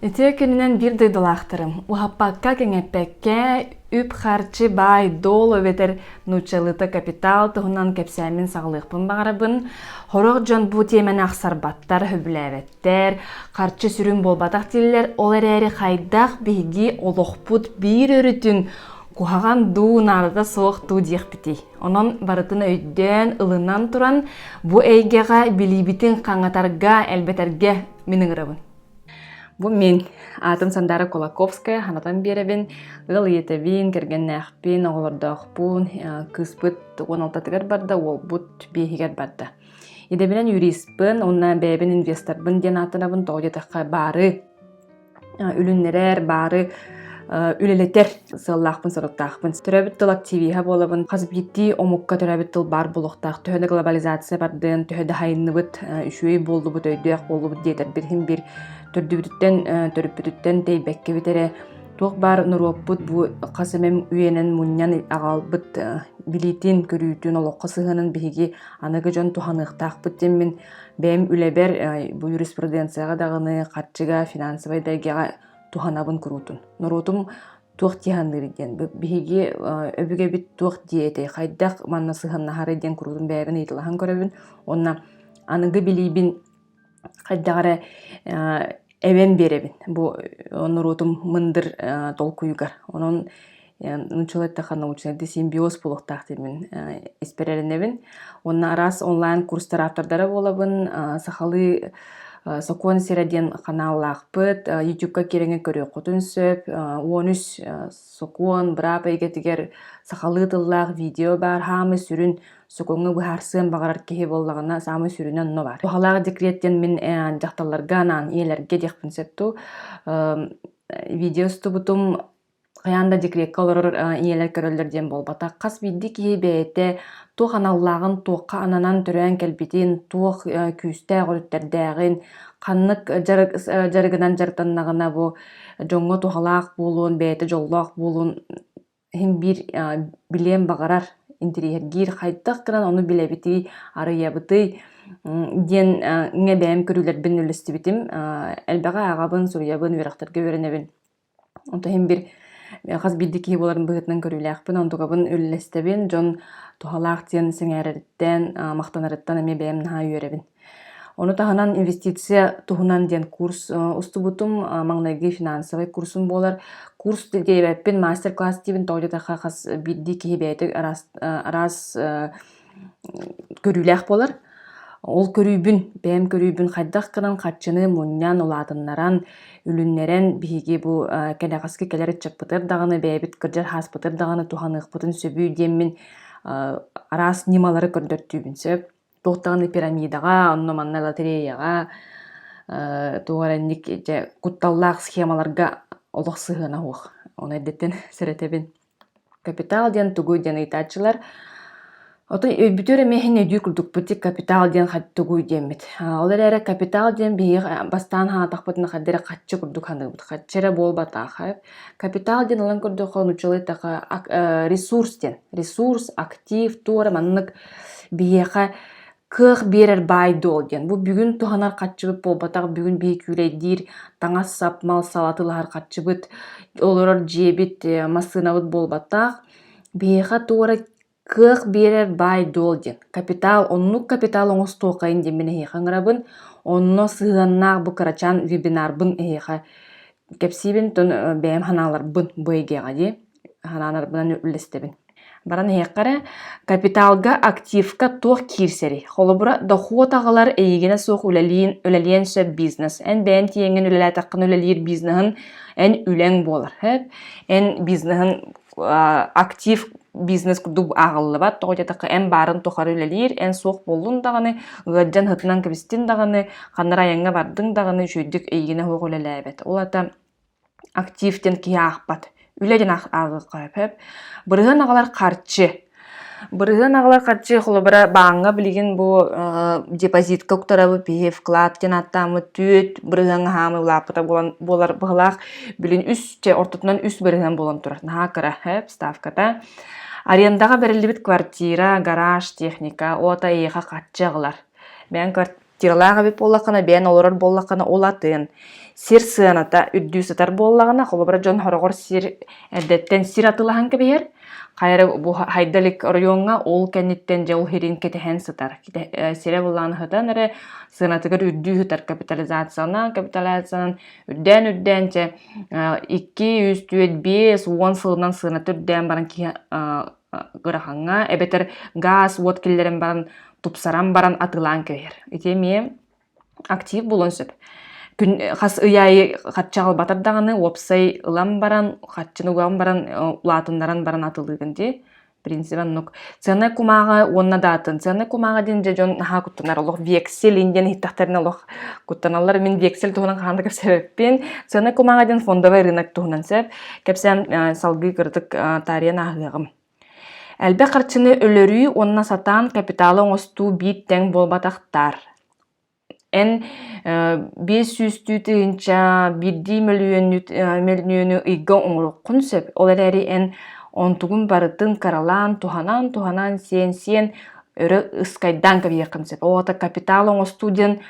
Ити күнүнэн биир дойдулаахтарым уһаппакка кэҥэппэккэ үп-харчы баай долу эбэтэр нууччалыыта капитал туһунан кэпсээмин саҕалыахпын баҕарабын. Хорох дьон бу тиэмэни ахсарбаттар, сөбүлээбэттэр. эбээттэр, харчы сүрүн буолбатах дииллэр, ол эрээри хайдах биһиги олохпут биир өрүтүн куһаҕан дуу, наадата суох дуу диэхпитий. Онон барытын өйдөөн, ылынан туран, бу эйгэҕэ билиибитин хаҥатарга, элбэтэргэ мин ыҥырабын. Бу мин аатым Сандаара Кулаковская, ханатан биэрэбин, ыал ийэтэбин, кэргэннээхпин, оҕолордоохпун, кыыспыт уон алтатыгар барда, уолбут биэһигэр барда. Идэбинен юристпын, уна бэйэбин инвесторбын диэн ааттанабын тоҕо диэтахха баары үлүннэрэр, баары үлэлэтэр сыаллаахпын соруктаахпын. Төрөбүт тыл активиһа буолабын. Хас биирдии омукка төрөбүт тыл баар буолуохтаах. Төһө да глобализация бардын, төһө да хайынныбыт, үчүгэй буоллубут, өйдөөх буоллубут диэтэрбит иһин бир төрдүбүтүттэн төрүппүтүттэн тэйбэккэбит эрэ туох баар норуоппут бу хас эмэм үйэнэн мунньан аҕалбыт билиитин, көрүүтүн, олоххо сыһыанын биһиги Аныгы дьон туһаныахтаахпыт диммин, бэйэм үлэбэр бу юриспруденцияҕа даҕаны, харчыга, финансовай дайгаҕа туһанабын куруутун. Норуотум туох дьиһанныырый диэн, биһиги өбүгэбит туох диэтэй, хайдах манна сыһыаннаһарый диэн куруутун бэйэбин ыйыталаһан көрөбүн. Уонна аныгы билиибин хайдах эрэ эбэн биэрэбин бу норуотум мындыр толкуйугар. Онон нууччалар айтта научнайдыы симбиоз буолуохтаах диэн мин испэр эрэнэбин. Уонна араас онлайн курстар автордара буолабын. Сахалыы сокуон сирэ диэн ханааллаахпыт. Ютубка киэҥҥэ көрүөххүтүн сөп. Он үс сокуон быраап эйгэтигэр сахалыы тыллаах видео баар, хаамыы сүрүн сукуҥҥа быһаарсыан баҕарар киһи буоллаҕына саамай сүрүнэ онно баар. Туһалаах декрет диэн мин дьахталларга анаан ийэлэргэ диэхпин сөп дуу видео устубутум хайаан да декретка олорор ийэлэр көрөллөр диэн буолбатах. Хас биирдии киһи бэйэтэ туох аналлааҕын, туохха ананан төрөөн кэлбитин, туох күүстээх өрүттэрдээҕин, ханнык дьарыгынан дьарыктаннаҕына бу дьоҥҥо туһалаах буолуон, бэйэтэ дьоллоох буолуон Иһин биир билиэн баҕарар, интириэһиргиир хайдах гынан ону билэбитий, арыйабытый диэн ингэ бэйэм көрүүлэрбин үлэлэстибитим. элбэҕи ааҕабын, суруйабын, үөрэхтэргэ үөрэнэбин. Онто иһин бир хас биирдии киһи буоларын быһыытынан көрүүлээхпин, онтукабын үлэлэстэбин. Дьон туһалаах диэн сэҥээрэриттэн, махтанарыттан эмиэ бэйэм наһаа үөрэбин. Ону таһынан инвестиция туһунан диэн курс устубутум. Маҥнайгы финансовай курсум буолар. Курс диэбэппин мастер-класс диибин тоҕо диэтэххэ хас биирдии киһи бэйэтэ араас араас көрүүлээх буолар. Ол көрүүбүн, бэйэм көрүүбүн хайдах гынан харчыны мунньан, улаатыннаран, үлүннэрэн биһиги бу кэнэҕэски кэлэр ыччаппытыгар даҕаны бэйэбит кырдьар хааспытыгар даҕаны туһаныахпытын сөбүй диэммин араас ньымалары көрдөртүүбүн сөп. туохтаҕына пирамидаҕа, онно манна лотереяҕа, э, туох эрэ инник дьэ кутталлаах схемаларга олох сыһыана суох. Ону эрдэттэн сэрэтэбин. Капитал диэн тугуй диэн ыйытааччылар. Оттон өйбүтүгэр эмиэ иһин өйдүүр курдук бутик капитал диэн тугуй диэммит. Ол эрээри капитал диэн биһиги бастаан санаатахпытына хайда эрэ харчы курдук саныыбыт. Харчы эрэ буолбатаах. Капитал диэн ылан көрдөххө нууччалыы эттэхэ ресурс диэн. Ресурс, актив, туох эрэ маннык Биһиэхэ кыах биэрэр баай-дуол диэн. Бу бүгүн туһанар харчыбыт буолбатах, бүгүн биһи күүлэйдиир таҥас-сап, мал сала тылаһар харчыбыт, олорор дьиэбит, э, массыынабыт буолбатах. Биһиэхэ тугу эрэ кыах биэрэр баай-дуол диэн. Капитал, оннук капитал оҥостуоххайын диэн мин эһиэхэ ыҥырабын. Онно сыһыаннаах бу кырачаан вебинарбын эһиэхэ кэпсиибин, бэйэм санааларбын бу эйгэҕэ дии. Санаанарбынан үллэстэбин. Баран иһиэххэ эрэ, капиталга, активка туох киирсэрий? Холобура, дохуот аҕалар эйигинэ суох үлэлиин, үлэлиэн сөп бизнес. Эн бэйэҥ тиийэҥҥин үлэлээтэххинэ үлэлиир бизнеһин эн үлэҥ буолар. Сөп? Эн бизнеһин актив бизнес курдук ааҕыллыбат, тоҕо диэтэххэ эн баарын тухары үлэлиир, эн суох буоллун даҕаны, ыалдьан, һытынан кэбистин даҕаны, ханна айаҥҥа бардыҥ даҕаны, үчүгэйдик эйигинэ суох үлэлээбэт. Ол аата Актив диэн киһи аахпат. Үлэ диэн ааҕыахха сөп. Бырыһыан аҕалар харчы. Бырыһыан аҕалар харчы холобура бааҥҥа билигин бу депозитка уктарабыт, биһи вклад диэн ааттааммыт түөрт бырыһыан аһаамай улааппыта буолар быһылаах. Билин үс, чэ ортотунан үс бырыһыан буолан турар. Наһаа кыра, сөп, ставката. Арендаҕа бэриллибит квартира, гараж, техника, ото эйиэхэ харчы аҕалар. Бэйэҥ Тирылаах эбит буоллаххына, бэйэн олорор буоллаххына, ол атын. Сир сыаната үрдүү сытар буоллаҕына, холобура дьон хороҕор сир эрдэттэн сир атылаһан кэбиһэр. Хайа бу хайда илик оройуонга ол кэнниттэн дьэ ол сирин кэтэһэн сытар. Сирэ буллаан сытан эрэ сыанатыгар үрдүү сытар капитализацияны капитализациянан үрдээн-үрдээн дьэ 2, 3, 4, 5 уон сылынан сыаната үрдээн баран киһи ырахан эбэтэр гаас уот киллэрэн баран тупсаран баран атыылаан кэбиһэр ити эмиэ актив буолуон сөп күн хас ый аайы хачча аҕалбатар даҕаны уопсай ылан баран хаччыны уган баран улаатыннаран баран атылыыгын дии принцип оннук цены кумааҕы уонна даатын цены кумааҕы диэн дьэ дьон наһаа куттанар олох вексель иин диэн иһиттэхтэринэ олох куттаналлар мин вексель туһунан хаһан да кэпсэбэппин цены кумааҕы диэн фондовай рынок туһунан сөп Кэпсээн салгыы кырытык таарыйан ааһыаҕым. Элбэх харчыны өлөрүү уонна сатаан капиталы оҥостуу биир тэҥ буолбатахтаар. Эн биэс сүүстүү тыһыынча биирдии мөлүйүөнү ыйга оҥоруоххун сөп. Ол эрээри эн онтугун барытын кыралаан, туһанан, туһанан, сиэн, сиэн өрө ыскайдаан кэбиһиэххин сөп. Ол аата капитал оҥостуу диэн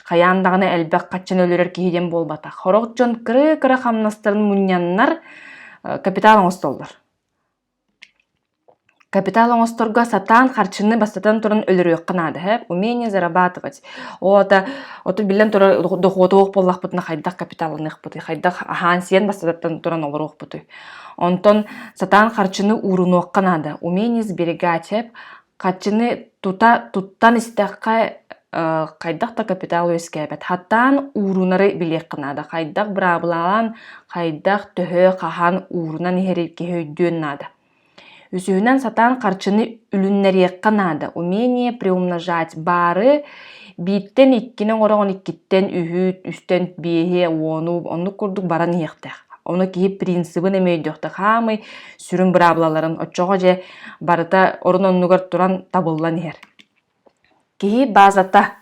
Хайаан даҕаны элбэх хаччан өлөрөр киһи диэн буолбатах. Хорох дьон кыра-кыра хамнастарын мунньаннар капитал оҥостоллор. Капитал оҥосторго сатаан харчыны бастатан туран өлөрүөххэ наада эһэ. Умение зарабатывать. Ота оту биллэн турар дохуотуох буоллахпытына хайдах капиталланыахпытый, хайдах аһаан-сиэн бастатан туран олоруохпутуй. Онтон сатаан харчыны уурунуохха наада. Умение сберегать эп Хаччыны тута туттан истэххэ э хайдах да капитал үөскээбэт. Хаттаан уурунары билиэххэ наада. Хайдах быраабылалаан, хайдах төһө хаһан уурунан иһэрий киһи өйдүөн наада. Үсүһүнэн сатаан харчыны үлүннэриэххэ наада. Умение приумножать баары бииртэн иккини оҥороҕун иккиттэн үһү, үстэн биэһи, уону оннук курдук баран иһиэхтээх. Ону киһи принцибин эмиэ өйдүөхтээх. Хаамый сүрүн быраабылаларын оччоҕо дьэ барыта орун-оннугар туран табыллан иһэр. Киһи базата,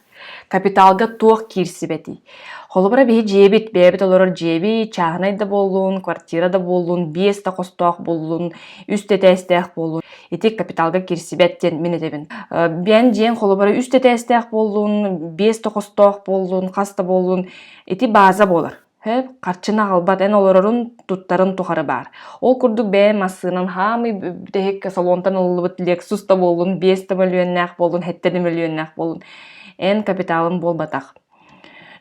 капиталга туох киирсибэтий? Холобура биһи дьиэбит, бэйэбит олорор дьиэбит чааһынай да буоллун, квартира да буоллун, биэс да хостоох буоллун, үс тэтээстээх буоллун, ити капиталга киирсибэт диэн мин этэбин. Бэйэн дьиэн холобура үс тэтээстээх буоллун, биэс да хостоох буоллун, хас да буоллун, ити база буолар. Сөп, харчыны аҕалбат эн олорорун, туттарын тухары баар. Ол курдук бэйэм массыынан хаамый бүтэһиккэ салонтан ылыллыбыт Lexus да буоллун, биэс да мөлүйүөннээх буоллун, сэттэ да мөлүйүөннээх буоллун, эн капиталым буолбатах.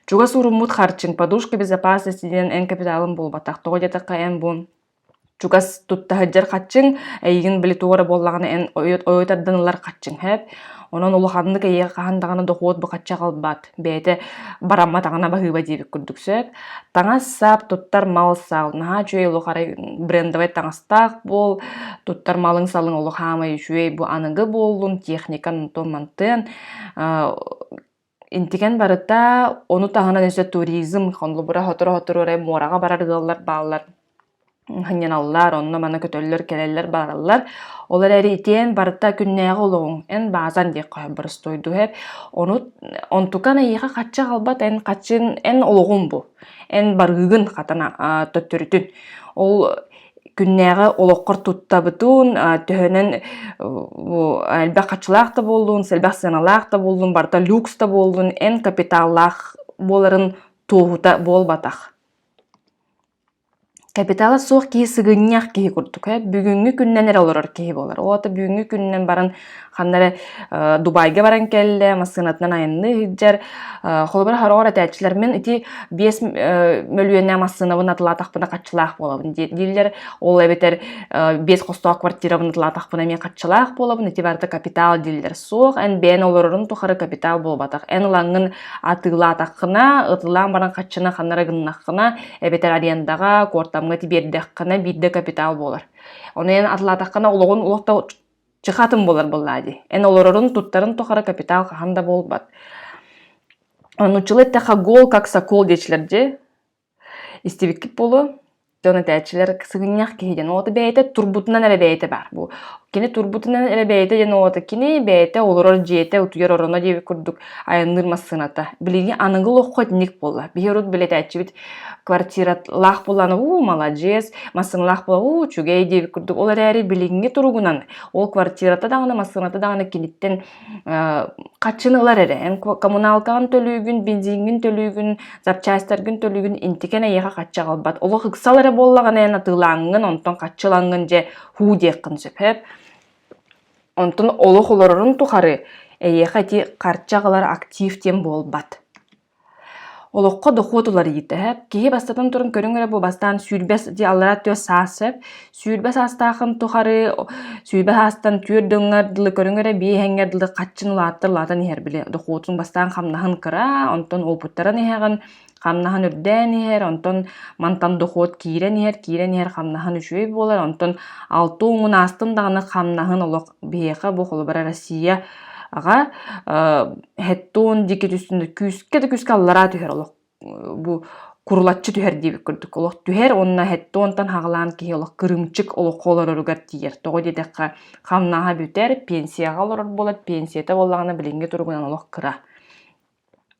Чугас уруммут харчыҥ, подушка, безопасность ситинэн эн капиталым буолбатах. Тоҕо диэтэххэ эн бу чугас туттаһыдьар хаччыҥ эйигин били туох эрэ буоллаҕына эн ойу тардан ылар хаччыҥ эбээт онон улаханнык эйиэхэ хаһан даҕаны дохуот бухачча аҕалбат бэйэтэ барамматаҕына баһыыба диэбит курдук сөп таҥас-сап туттар мал-сал наһаа үчүгэй олох арай брендовай таҥастаах буол туттар малыҥ-салыҥ олох хаамай үчүгэй бу аныгы буоллун техника онтон мантыан Интикэн барыта ону таһынан өссө туризм, холобура сотору-сотору эрэ муораҕа барар ыаллар бааллар һынньаналлар, онно-маны көтөллөр, кэлэллэр, бараллар. Ол эрээри итиэн барыта күннээҕи олоҕуҥ, эн баазан диэххэ сөп, боростуойдуһар. Ону онтукан эйиэхэ хачча аҕалбат, эн хаччын, эн олоҕуҥ бу. Эн барыыгын хатан а, төттөрүтүн. Ол күннээҕи олоххор туттабытын, төһөнөн элбэх хаччылаах да буоллун, элбэх сыаналаах да буоллун, барыта люкс да буоллун, эн капиталлаах буоларын туоһута буолбатах. Капитала суох киһи сыгынньах киһи курдук. Бүгүҥҥү күннэн эрэ олорор киһи буолар. Оҕото бүгүҥҥү күнүнэн баран Ханна эрэ Дубайга баран кэллэ, массыынатынан айанныы сылдьар. Холобура, хороҕор этээччилэр «Мин ити биэс мөлүйүөннээх массыынабын атылаатахпына хаччылаах буолабын» дииллэр. Ол эбэтэр биэс хостоох квартирабын атылаатахпына эмиэ хаччылаах буолабын. Ити барыта капитал дииллэр. Суох, эн бэйэн олорорун тухары капитал буолбатах. Эн ылаҥҥын атыылаатаххына, ытылаан баран хаччына ханна эрэ гыннаххына, эбэтэр арендаҕа, куортамҥа тибиэрдэххинэ биирдэ капитал буолар. Ону эн атылаатаххына олоҕун олох да чэ хатым буолар буоллаа дии эн олорорун туттарын тухары капитал хаһан да буолбат нуччулы эттэхэ гол как сокол диэчилэр дьэ истибиккит буолуо дьон этээччилэр сыгынньах киһи диэн уота бэйэтэ турбутунан эрэ бэйэтэ баар бу кини турбутунан эрэ бэйэтэ диэн уота кини бэйэтэ олорор дьиэтэ утуйар ороно диэбит курдук айанныыр массыыната билиҥҥи аныгы олоххо итинник буолла биһи урут билэтээччибит квартиралаах буоллаҕына уу маладьыас массыыналаах буола уу үчүгэй диэбит курдук ол эрээри билиҥҥи туругунан ол квартирата даҕаны массыыната даҕаны киниттэн хаччыны ылар эрэ эн коммуналкаҕын төлүүгүн бензиҥҥин төлүүгүн запчастьтаргын төлүүгүн интикэн эйиэхэ хачча аҕалбат олох ыксал эрэ буоллаҕына эн атыылааҥҥын онтон хаччы ылаҥҥын дьэ һуу диэххин сөп онтон олох олорорун тухары эйиэхэ ити харчы аҕалар актив диэн буолбат Олоххо дохуот уларыйыы төһө? Киһи бастатан туран көрүҥ эрэ бу бастаан сүүрбэс дьэ аллараа түөрт саас сөп. Сүүрбэс саастаахын тухары сүүрбэс аастан түөрт дьоҥҥор дылы көрүҥ эрэ биэһэҥҥэр дылы хаччын улааттар улаатан иһэр били дохуотуҥ бастаан хамнаһын кыра, онтон уопуттаран иһэҕин хамнаһын үрдээн иһэр, онтон мантан дохуот киирэн иһэр, киирэн иһэр хамнаһын үчүгэй буолар, онтон алта уҥун аастын даҕаны хамнаһын олох Биһиэхэ бу холобура Россия аҕа хэттон диэки түстүнэ күүскэ да күүскэ аллараа түһэр олох бу курулаччы түһэр диэбит курдук олох түһэр уонна хэттонтан хаҕылаан киһи олох кырыымчык олоххо олороругар тиийэр тоҕо диэтэххэ хамнаһа бүтэр пенсияҕа олорор буолар пенсията буоллаҕына билиҥҥи туругунан олох кыра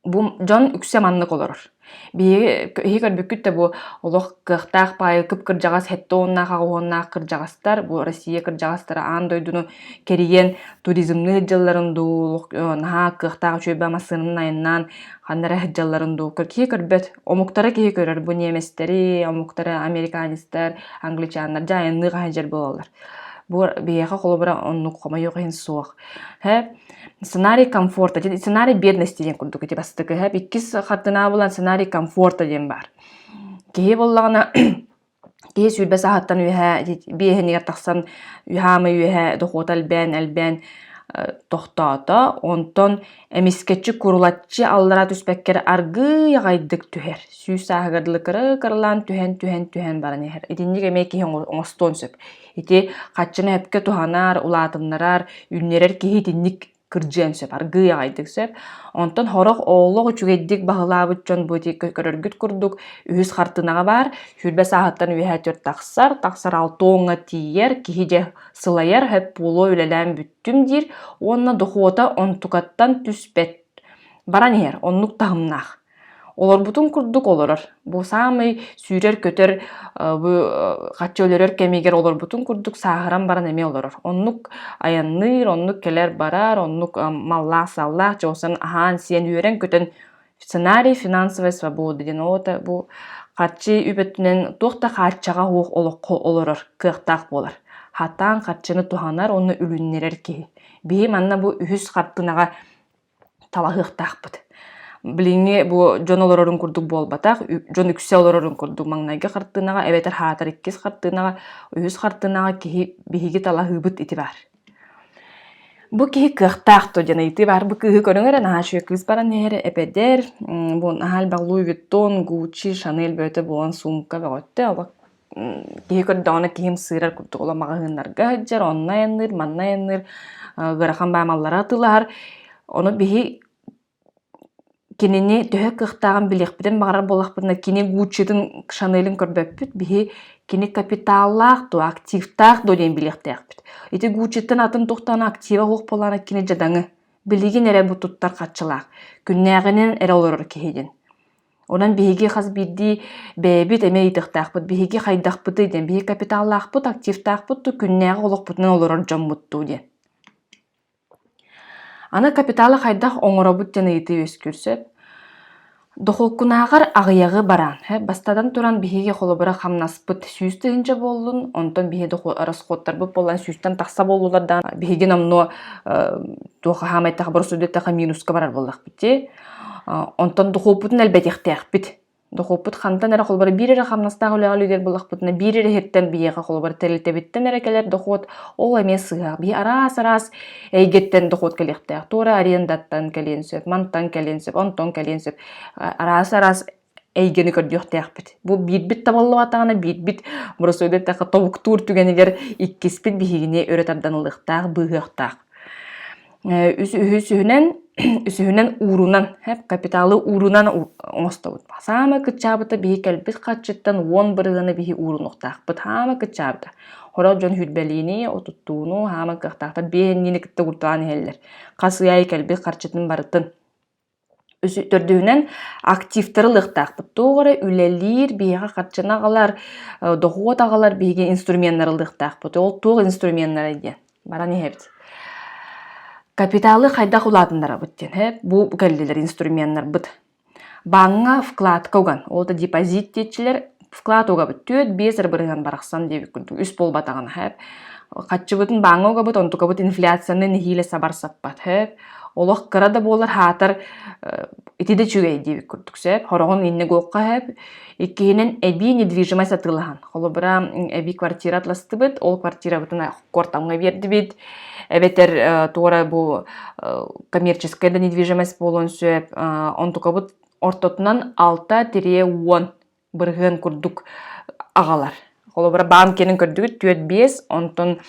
бу дьон үксэ маннык олорор. Биһиги биһи көрбүккүт да бу олох кыахтаах паайы кып-кырдьаҕас сэттэ уоннаах аҕыһыһыаннаах кырдьаҕастар бу Россия кырдьаҕастара аан дойдуну кэрийэн туризмныы сылдьалларын дуу наһаа кыахтаах үчүөйбэ массыынаны айаннаан ханна эрэ сылдьалларын дуу киһи көрбөт омуктара киһи көрөр бу немецтэри омуктара американецтар англичаннар дьэ айанныы хаһан сылдьар буолаллар Бу биһиэхэ холобура оннук хомойуох иһин суох. Һэ, сценарий комфорта диэн сценарий бедности диэн курдук ити бастакы һэ иккис хартыынаа булан сценарий комфорта диэн баар. Киһи буоллаҕына киһи сүүрбэс аһыттан үөһэ биэһинигэр тахсан үһаамай үөһэ дохуота элбээн элбээн тохтоото. Онтон Эмискэччи курулаччы аллараа түспэккэр аргыый аҕайдык түһэр, сүүс сааһыгар дылы кыра-кыралаан түһэн, түһэн, түһэн баран иһэр. Итинник эмиэ киһи оҥостуон сөп. Ити хаччына өпкө туһанар, улаатыннарар, үүннэрэр киһи итинник кырдьыан сөп, аргыый аҕайдык сөп. Онтон сорох олох үчүгэйдик баһылаабыт дьон бу ити көрөргүт курдук үһүс хартыынаҕа баар, сүүрбэ сааһыттан үөһэ түөрт тахсар, тахсар алта уоҥҥа тиийэр, киһи дьэ сылайар, хөп буолуо үлэлээн бүттэ. түм диир уонна дохуота онтукаттан түспэт баран иһэр оннук таһымнаах олорбутун курдук олорор бу саамай сүүрэр-көтөр бу хаччы өлөрөр кэмигэр олорбутун курдук сааһыран баран эмиэ олорор оннук айанныыр оннук кэлэр барар оннук маллаах-саллаах дьон аһаан сиэн үөрэн-көтөн Сценарий финансовай свобода диэн оҕото бу харчы үп өттүнэн туох да хааччаҕа суох олоххо олорор кыахтаах буолар. Хатаан харчыны туһанар уонна үлүннэрэр киһи. Биһи манна бу үһүс хартыынаҕа талаһыахтаахпыт. Билиҥҥи бу дьон олорорун курдук буолбатах, дьон үксэ олорорун курдук маҥнайгы хартыынаҕа эбэтэр хаатар иккис хартыынаҕа, үһүс хартыынаҕа киһи биһиги талаһыыбыт ити баар. Бу киһи кыахтаах дуо диэн ыйытыы баар. Бу кыыһы көрүҥ эрэ, наһаа үчүгэй кыыс баран иһэрэ эпэдэр, бу наһаа элбэх Луи Виттон, Гуччи, Шанель бөтө буолан сумка бөҕөттө. Олох киһи көрдөҕүнэ киһим сыырар курдук олох маҕаһыыннарга сылдьар, онно айанныыр, манна айанныыр, ыарахан баамаллара атыылаһар. Ону биһи Кинини төһө кыахтааҕын билиэхпитин баҕарар буоллахпытына, кини Гуччитын, Шанелин көрбөппүт. Биһи кини капиталлаах дуо, активтаах дуо диэн билиэхтээхпит. Ити Гуччиттан атын туохтаан актива суох буоллаҕына, кини дьадаҥы. Билигин эрэ бу туттар харчылаах. Күннээҕинэн эрэ олорор киһи диэн. Онон биһиги хас биирдии бэйэбит эмиэ ыйытыахтаахпыт, биһиги хайдахпытый диэн. Биһи капиталлаахпыт, активтаахпыт дуу, күннээҕи олохпутунан олорор дьоммут дуу диэн. Аны капиталы хайдах оҥоробут диэн ыйытыы үөскүүр сөп. Дохуоккунааҕар аҕыйаҕы бараан, бастатан туран, биһиги холобура хамнаспыт сүүс тыһыынча буоллун, онтон биһиги дохуот расходтарбыт буоллан сүүстэн тахса буоллулар даҕаны биһиги номнуо туох хаһаамайдаах боросуойдатахха минуска барар буоллахпыт дии. Онтон дохуоппутун элбэтиэхтээхпит. Дохуоппут хантан эрэ холобура биир эрэ хамнастаах үлэҕэ үлүгэр буллахпытына биир эрэ иһиттэн биһиэхэ холобура тэрилтэбиттэн эрэ кэлэр дохуот ол эмиэ сыыһаах. Биһи араас-араас эйгэттэн дохуот кэлиэхтээх. Туора арендаттан кэлиэн сөп, мантан кэлиэн сөп, онтон кэлиэн сөп. Араас-араас эйгэни көрдүөхтээхпит. Бу биирбит табыллыбатаҕына биирбит боросуойда эттэхэ тобуктуур түгэнигэр иккиспит биһигини өрө тардан ылыахтаах, быыһыахтаах. үсүһүнэн үсүһүнэн уурунан капиталы уурунан оҥостобут саамай кыччаабыта биһи кэлбит харчыттан уон бырыһыаны биһи уурунуохтаахпыт хаама кыччаабыта Хорох дьон хүрбэлиини, отуттууну, хаама кыахтаахтар биээнниини кытта курталаан иһэллэр. Хас ый аайы кэлбит харчытын барытын Төрдүһүнэн, активтары ылыахтаахпыт. Туох эрэ үлэлиир, биһиэхэ харчыны аҕалар, дохуот аҕалар биһиги инструменнары ылыахтаахпыт. Ол туох инструменнарай диэн баран иһэбит. Капиталы хайдах улаатыннарабыт диэн. Һэ, бу кэллилэр инструменнарбыт. Бааҥҥа вкладка уган, ол да депозит диэччилэр, вклад угабыт түөрт биэс ырыбырыһан барахсан диэбит курдук үс буолбатаҕына хэп хаччыбытын бааҥҥа угабыт онтукабыт инфляцияны нэһиилэ сабар саппат хэп олох кыра да буолар хаатар ити да үчүгэй диэбит курдук сэп хороҕун иннэ гуохха хэп иккиһинэн эбии недвижимость атыылаһан холобура эбии квартира атластыбыт ол квартирабытын куортамҥа биэрдибит эбэтэр туора бу коммерческая да недвижимость буолуон сөп онтукабыт ортотунан алта тириэ уон бырыһыан курдук аҕалар. Холобура, Банкинын көрдүгүт түөрт биэс, онтон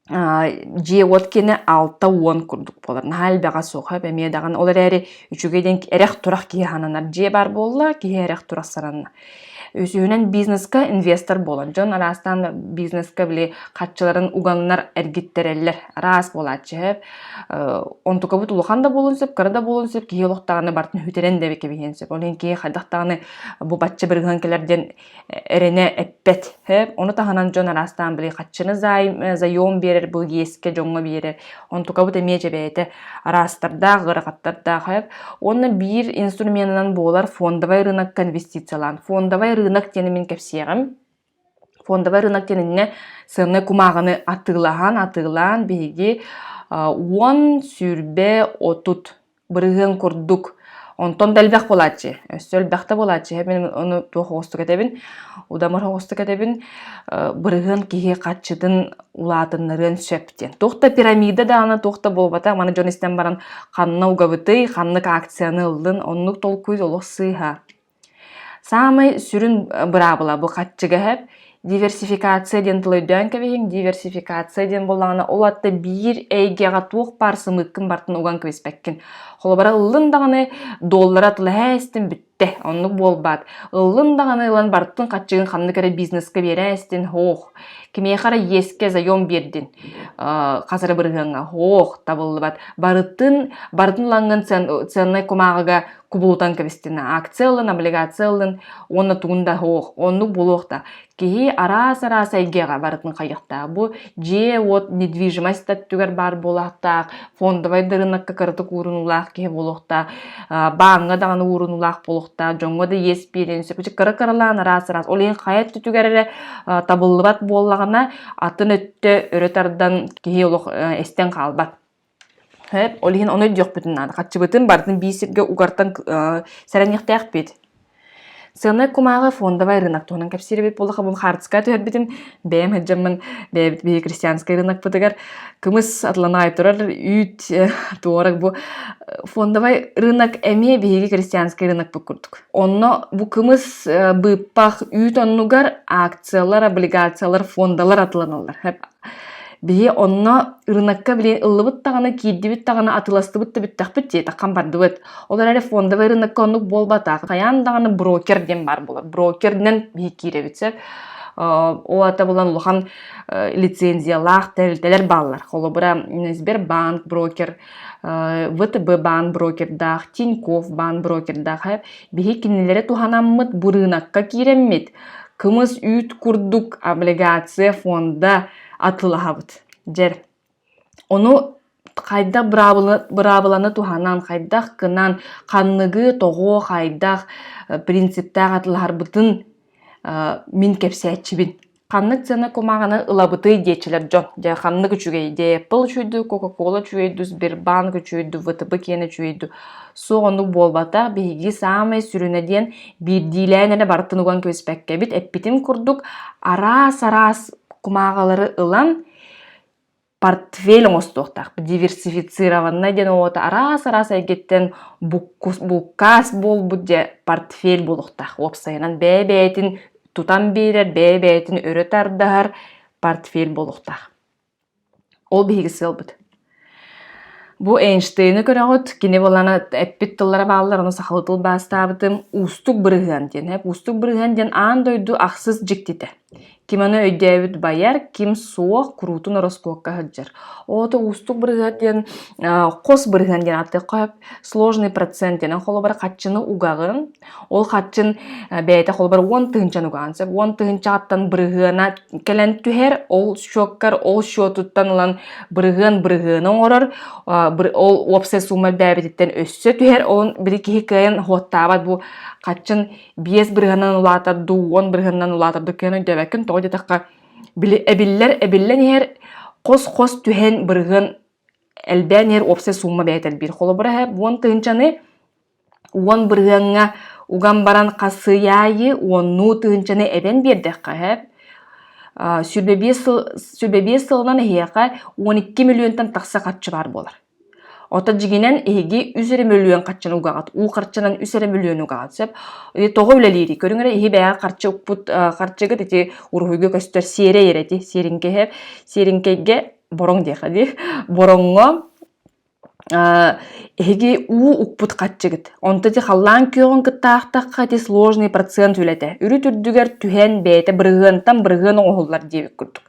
дьиэ уоткине алта уон курдук буолар. Наһаа элбэҕэ суох, эмиэ даҕаны. Ол эрээри үчүгэй диэн эрэх-турах киһи сананар дьиэ баар буолла, киһи эрэх-турах сананна. Үсүһүнэн бизнеска инвестор буолан, дьон араастаан бизнеска били харчыларын уганнар эргиттэрэллэр. Араас буолааччы, онтукабыт улахан да буолуон сөп, кыра да буолуон сөп, киһи олохтааҕына бартын хүтэрэн да кэбиһиэн сөп. Ол иһин киһи хайдах даҕаны бу бачча бырыһыан кэлэр диэн эрэнэ эппэт. Ону таһынан дьон араастаан били хаччыны заем биэрэр, бу иэскэ дьоҥҥо биэрэр. Онтукабыт эмиэ дьэбээтэ араастардаах, ыарахаттардаах. Уонна биир инструменынан буолар фондовай рынок конвестициялаан. Фондовай рынок диэн мин кэпсиэҕим. Фондовай рынок кэннинэ сыаннай кумааҕыны атыылаһан, атыылаан биһиги уон сүүрбэ отут бырыһыан курдук онтон да элбэх буолааччы. Өссө элбэхтэ буолааччы. Мин ону туох оҕустук этэбин? Удамыр оҕустук этэбин. Бырыһыан киһи харчытын улаатыннарыан сөп диэн. Туох да пирамида даҕаны туох да буолбата. Маны дьон истэн баран ханна угабытый, ханнык акцияны ыллын, оннук толкуй олох сыыһа. Саамай сүрүн быраабыла бу хаччыгаһап. Диверсификация диэн тылы кэбиһиҥ. Диверсификация диэн буоллаҕына, ол атта биир эйгэҕэ туох баар сымыыккын бартын уган кэбиспэккин. Холобура, ыллын даҕаны доллара тылаһа истин бүттэ. Оннук буолбаат. Ыллын даҕаны ылан бартын хаччыгын ханнык эрэ бизнеска биэрэ истин, һуох. Кимиэхэ эрэ иэскэ заем биэрдин хасары бырыһыаҥҥа. Һуох, табыллыбат. Барытын барытын ылаҥҥын ценнай кумааҕыга кубулутан кэбистина акция ылын облигация ылын уонна тугун да оһох оннук булуохта киһи араас араас эйгэҕэ барытын хайыахтаах бу дьиэ уот недвижимость өттүгэр баар буолаахтаах фондовай да рынокка кыратык уурунуулаах киһи буолуохтаах бааҥҥа даҕаны уурунуулаах буолуохтаах дьоҥҥо да иэс биэриэн сөп кыра кыралаан араас араас ол иһин хайа өттүгэр эрэ табыллыбат буоллаҕына атын өттө өрө тардан киһи олох эстэн хаалбат Эп, ол иһин ону өйдүөхпүтүн наада. Хаччыбытын барытын биир сиргэ угартан сэрэниэхтээхпит. Сыаннай кумааҕы фондовай рынок туһунан кэпсиирбит буоллахабын хаартыска түһэрбитим. Бэйэм сылдьаммын бэйэбит биһиги крестьянскай рынокпытыгар кымыс атланаай турар үүт туораг бу фондовай рынок эмиэ биһиги крестьянскай рынокпыт курдук. Онно бу кымыс быыппах үүт оннугар акциялар, облигациялар, фондалар атланаллар. Биһи онно ырынакка билин ыллыбыт даҕаны, киирдибит даҕаны, атыластыбыт да бүттэхпит диэтэ, хам бардыбыт. Ол эрээри фондовай ырынакка оннук буолбатах. Хайаан даҕаны брокер диэн баар буолар. Брокеринэн биһи киирэбит сөп. Ол аата булан улахан лицензиялаах тэрилтэлэр бааллар. Холобура, Сбербанк, брокер ВТБ баан брокердаах, Тинькофф баан брокердаах биһи кинилэри туһанаммыт бу рынокка киирэммит кымыс үүт курдук облигация фонда атылаһабыт. Дьэр ону хайдах быраабыланы туһанан, хайдах кынан, ханныгы тоҕо, хайдах принциптаах атылаһарбытын мин кэпсээччибин. Ханнык сыана кумааҕыны ылабытый диэччилэр дьон. Дьэ, ханнык үчүгэй? Дээппэл үчүгэйдүү, Кока-Кола үчүгэйдүү, Сбербанк үчүгэйдүү, ВТБ киэн үчүгэйдүү. Суох оннук буолбата, биһиги саамай сүрүнэ диэн биирдиилээн эрэ барытын уган кэбиспэккэбит. Эппитим курдук, араас-араас кумааҕылары ылан, портфель оҥостуохтаахпыт диверсифицированнай диэн уота араас араас эйгэттэн буккус булкаас буолбут дьэ портфель буолуохтаах уопсайынан бэйэ бэйэтин тутан биэрэр бэйэ бэйэтин өрө тардаһар портфель буолуохтаах ол биһиги сыалбыт бу Эйнштейны көрөҕүт кини буолана эппит тыллара бааллар ону сахалыы тылбаастаабытым уустук бырыһыан диэн уустук бырыһыан диэн аан дойду ахсыс дьиктитэ ким аны өйдөөбүт байар, ким суох, куруутун ороскуокка сылдьар. Ото уустук бырыһыат диэн хос бырыһыан диэн ааттыахха сложный процент диэн холобур хаччыны угаҕын, ол хаччын бэйэтэ холобур уон тыһынчан угаҕан сөп. Уон тыһынчааттан бырыһыана кэлэн түһэр, ол счётгар ол счётуттан ылан бырыһыан бырыһыаны оҥорор, ол уопсай суума элбээбититтэн өссө түһэр, ол били киһи кыайан оһуоттаабат бу хаччын биэс бырыһанан улаатар дуу, уон бырыһанынан улаатар дуу кыаны өйдөөбөккүн, тоҕо диэтэххэ, били эбиллэр, эбиллэн иһэр хос-хос түһэн бырыһын элбээн иһэр уопсай сумма бэйэтэ элбиир. Холобура иһэ, уон тыһынчаны уон бырыһаҥҥа уган баран хасыйаайы уоннуу тыһынчаны эбэн биэрдэххэ иһэ, сүрбэ биэс сыл, сүрбэ биэс сылынан эһиэхэ 12 миллионтан тахса харчы баар буолар. Оттон дьиҥинэн эһиги үс эрэ мөлүйүөн харчыны угаҕыт, уу харчынан үс эрэ мөлүйүөнү угаҕыт сөп. Ити тоҕо үлэлиирий? Көрүҥ эрэ киһи бэйэҕэ харчы укпут харчыгыт ити уруһуйга көстөр сиэрэй эрэ ити сиэриҥкэһэ сиэриҥкэйгэ бороҥ диэххэ дии. Бороҥҥо эһиги уу укпут харчыгыт. Онто ити халлаан күөҕүн кыттаахтахха ити сложный процент үлэтэ. Үрүт үрдүгэр түһэн бэйэтэ бырыһыантан бырыһыан оҥоһуллар диэбит курдук.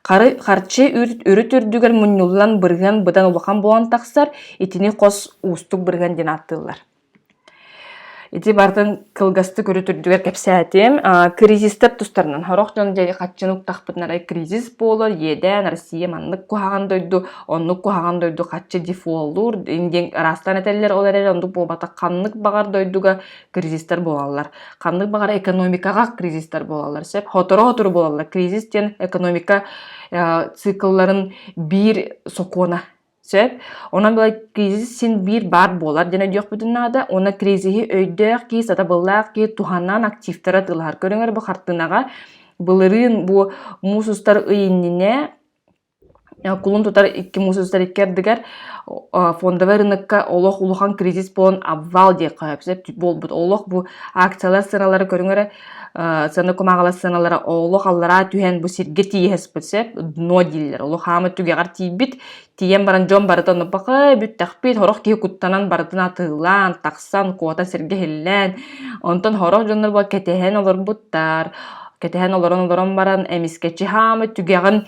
Харчы үрүт үрдүгэр мунньуллан бырыһыан быдан улахан буолан тахсар, итини хос уустук бырыһыан диэн ааттыыллар. Ити барытын кылгастык үрүт үрдүгэр кэпсээтим. Кризистэр тустарынан сорох дьон дьэ хаччыны уктахпытына эрэ кризис буолар, иэдээн Россия маннык куһаҕан дойду, оннук куһаҕан дойду хаччы дефолтуур диэн ыраастан этэллэр, ол эрээри оннук буолбатах ханнык баҕар дойдуга кризистэр буолаллар. Ханнык баҕара экономикаҕа кризистэр буолаллар. Сөп хоторо-хотору буолаллар. Кризис диэн экономика э, циклларын биир сокуона Сөп. Онон былай кризис син биир баар буолар диэн өйдüөхпүтүн наада. Уонна кризиһи өйдөөх ки, сатабыллаах ки туһанан активтара тылыһар көрүңөр бу хартыынаҕа былырыын бу муус устар ый иннинэ кулун тутар икки муус устар икки ардыгар фондовай рынокка олох улахан кризис буолан обвал диэх сөп буолбут олох бу акциялар сыаналара көрүҥ эрэ сыана кумааҕылар сыаналара олох аллараа түһэн бу сиргэ тиийэ сыспыт сөп дно дииллэр олох хаама түгэҕэр тиийбит тиийэн баран дьон барыта ону бакай бүттэхпит сорох киһи куттанан барытын атыылаан тахсан куота сиргэ иһиллэн онтон сорох дьоннор кэтэһэн олорбуттар кэтэһэн олорон олорон баран эмискэчи хаама түгэҕин